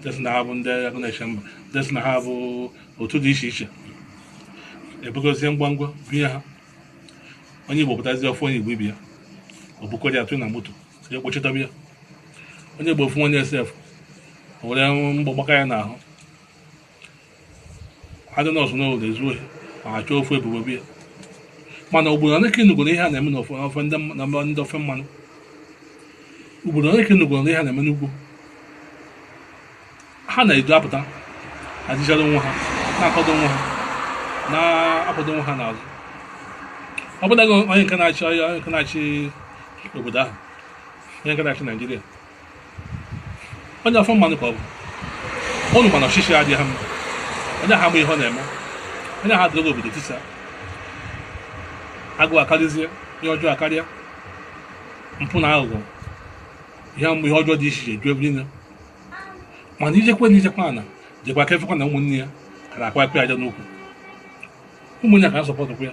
ndị sị na ha bụ ndị agụ na-eche mba ndị sị na ha bụ otu dị iche iche ebugozie ngwa ngwa binye ha onye igbo pụtazi ọ fụ onye igbo ibe ya o bukọrọ ya tụọ na moto ya kpochitaba ya onye igbo ofu onye sef o were mgbọ gbaka ya n'ahụ adị nọọsụ n'ụlọ ezu ohi ma ha chọọ ofu ebubo bo ya mana obodo one ka ị nụgoro ihe a na-eme n'ofe ofe ndị mma- na ndị ofe mmanụ obodo one ka ị nụgoro ihe a na-eme n'ugwu ha na-edu apụta ajịchara onwe ha na-akwado onwe ha na-akwado onwe ha n'azụ ọbụladị onye nke na-achị onye nke na-achị obodo ahụ onye nke na-achị naijiria onye ofe mmanụ ka ọ bụ ụnụ ma na ọchịchị adịghị ha mma onye ha ma ihe ọ na-eme onye ha dịrị obodo tisa agụụ akarịzie ihe ọjọọ akarịa mpụ na aghụghọ ihe mgbe ihe ọjọọ dị iche iche ju ebe niile mana ijekwe na ijekwa ana jekwa aka efekwa na ụmụnne ya kara akwa akpa aja n'ukwu ụmụnne ya ka na-asọpọtụkwa ya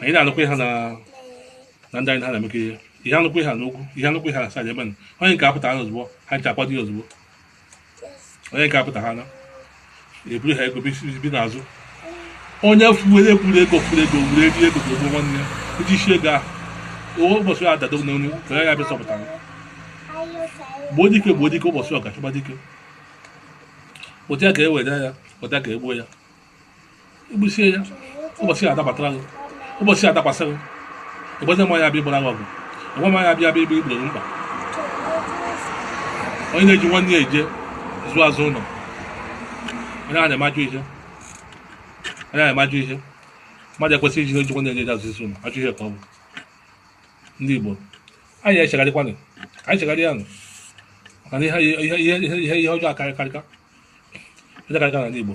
anyị na-anụkwa ha na na ndị anyị ha na-emekọ ihe ihe anụkwa ihe n'ugwu ihe anụkwa ihe na saịdị ebe na onye nke ha pụta ha ozugbo ha ncha akwado ya ozugbo onye nke ha pụta ha na eburu ha ego bi n'azụ onye fuwere ekwuru ego furu ego were eri ego ga-egbu nwanne ya iji isi ego ahụ owe ụbọchị ya adado n'onye ka ya bịa zọpụta ya gbuo dike gbuo dike ụbọchị ọ ga-achọkwa dike kpụta ya ka e were ya kpụta ya ka e gbuo ya i gbusie ya ụbọchị ya adabatara gị ụbọchị ya adakwasị gị ị gwazi ma ya bịa gbara gị ọgụ ị gwa ma ya bịa bịa igboro gị mkpa onye na-eji nwanne ya eje ozi azụ ụlọ onye a na-eme ajọ ihe onye a na-eme ajọ ihe mmadụ ekwesịghị iji eji nwanne ya eje azụ isi ụlọ ajọ ihe ka ọ bụ ndị Igbo anyị echegharịkwanụ anyị chegharịa nụ maka na ihe ihe ihe ihe ihe ọjọọ akarịkarịka ọjọọ akarịka n'ala Igbo